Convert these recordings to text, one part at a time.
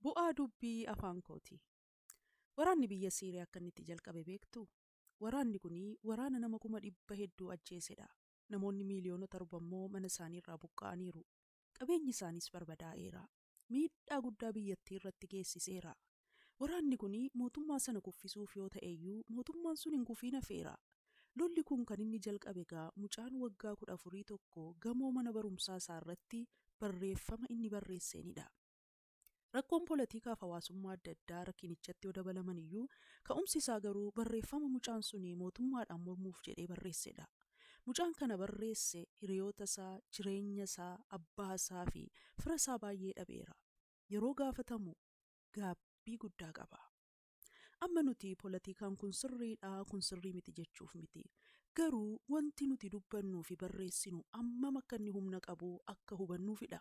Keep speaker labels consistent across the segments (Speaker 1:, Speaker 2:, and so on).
Speaker 1: Bu'aa dubbii afaan kooti. Waraanni biyya Siiriyaa akka inni itti jalqabe beektuu? Waraanni kun waraana nama kuma dhibba hedduu ajjeesedha. Namoonni miiliyoona torba immoo mana isaanii irraa buqqa'aniiru. Qabeenyi isaaniis barbadaa'eera. Miidhaa guddaa biyyattii irratti geessiseera. Waraanni kun mootummaa sana kuffisuuf yoo ta'eyyuu mootummaan sun hin kufiin hafeera. Lolli kun kan inni jalqabe egaa mucaan waggaa kudha afurii tokko gamoo mana barumsaa isaa irratti barreeffama inni barreesseenidha. Rakkoon polatiikaaf hawaasummaa adda addaa rakinichatti yoo dabalamaniyyuu ka'umsi isaa garuu barreeffama mucaan sun mootummaadhaan mormuuf jedhee barreessedha. Mucaan kana barreesse hiriyoota isaa, jireenya isaa, abbaa isaa fi fira isaa baay'ee dhabeera. Yeroo gaafatamu gaabbii guddaa qaba. Amma nuti polatiikaan kun sirriidha, kun sirrii miti jechuuf miti. Garuu wanti nuti dubbannuu fi barreessinu ammam akka inni humna qabu akka hubannuufidha.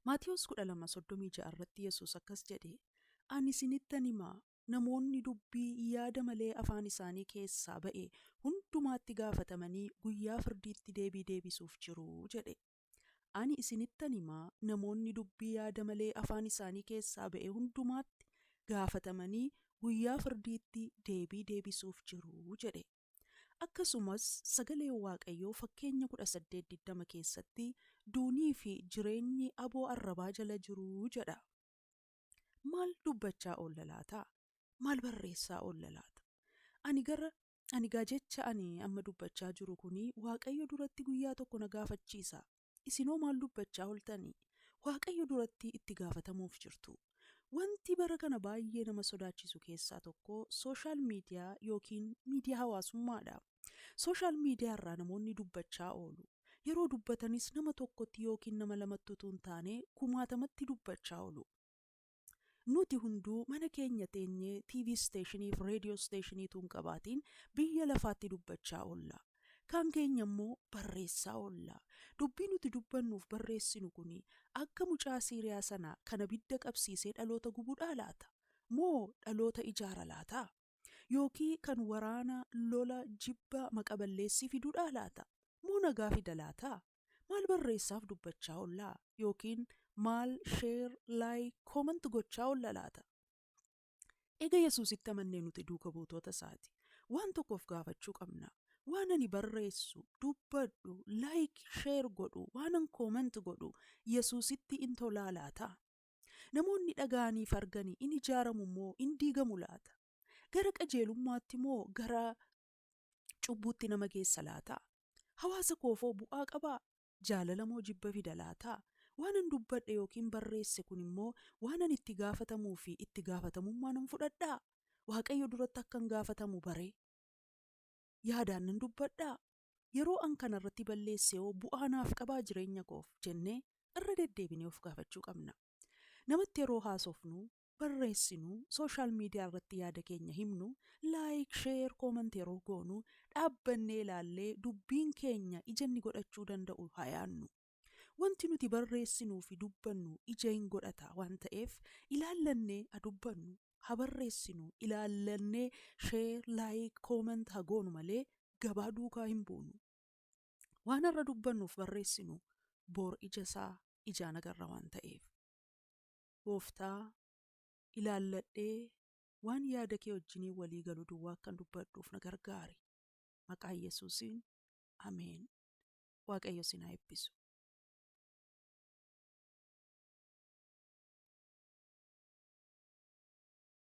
Speaker 1: Maatewos 12:36 irratti Yesuus akkas jedhe, Ani isinittan hima, namoonni dubbii yaada malee afaan isaanii keessaa ba'e hundumaatti gaafatamanii guyyaa firdiitti deebii deebisuuf jiru jedhe. Ani isinittan hima, namoonni dubbii yaada malee afaan isaanii keessaa ba'e hundumaatti gaafatamanii guyyaa firdiitti deebii deebisuuf jiru jedhe. Akkasumas sagaleen Waaqayyoo fakkeenya 18 20 keessatti duunii fi jireenyi aboo arrabaa jala jiru jedha. Maal dubbachaa oolla laata? Maal barreessaa oolla laata? Ani gara Ani egaa jecha ani amma dubbachaa jiru kun Waaqayyo duratti guyyaa tokko na gaafachiisa. Isin hoo maal dubbachaa ooltani? Waaqayyo duratti itti gaafatamuuf jirtu. Wanti bara kana baay'ee nama sodaachisu keessaa tokko sooshaal miidiyaa yookiin miidiyaa hawaasummaadha. Sooshaal miidiyaa irraa namoonni dubbachaa oolu. Yeroo dubbatanis nama tokkotti yookiin nama lamatti utuu hin taane kumaatamatti dubbachaa oolu. Nuti hunduu mana keenya teenyee TV isteeshinii fi reediyoo isteeshinii tuun qabaatiin biyya lafaatti dubbachaa oolla. Kaan keenya immoo barreessaa oolla. Dubbii nuti dubbannuu fi barreessinu kuni akka mucaa Siiriyaa sanaa kan abidda qabsiisee dhaloota gubudhaa laata? Moo dhaloota ijaara laata? Yookii kan waraana, lola, jibba, maqa balleessii fidudhaa laata? Moo nagaa fida laata? Maal barreessaaf dubbachaa olla? Yookiin maal share, like, comment gochaa olla laata? Ega Yesuusitti amannee nuti duuka buutoota isaati. Waan tokko of gaafachuu qabna. Waan ani barreessu, dubbadhu, like, share godhu, waanan comment godhu Yesuusitti in tolaa laata? Namoonni dhaga'aniif argani in ijaaramu moo in diigamu laata? Gara qajeelummaatti moo gara cubbuutti nama geessa laataa? Hawaasa koofoo bu'aa qabaa? Jaalala moo jibba fida laataa? Waanan dubbadhe yookiin barreesse kun immoo waanan itti gaafatamuu fi itti gaafatamummaa nan fudhadhaa? Waaqayyo duratti akkan gaafatamu baree? Yaadaan nan dubbadhaa? Yeroo an kana irratti balleesse hoo bu'aa naaf qabaa jireenya koof? jennee irra deddeebinee of gaafachuu qabna. Namatti yeroo haasofnu barreessinu, social media irratti yaada keenya himnu, like, share, comment yeroo goonu, dhaabbannee ilaallee dubbiin keenya ija inni godhachuu danda'u haa yaadnu. Wanti nuti barreessinuu fi dubbannu ija in godhata waan ta'eef ilaallannee ha dubbannu, ha barreessinu, ilaallannee share, like, comment ha goonu malee gabaa duukaa hin buunu. Waan har'a dubbannuuf barreessinu bor ija isaa ijaan agarra waan ta'eef. Gooftaa, ilaalladhee waan yaada kee wajjiniin walii galu duwwaa akkan dubbadhuuf na gargaari. Maqaa Yesuusiin, Ameen. Waaqayyo isin haa eebbisu.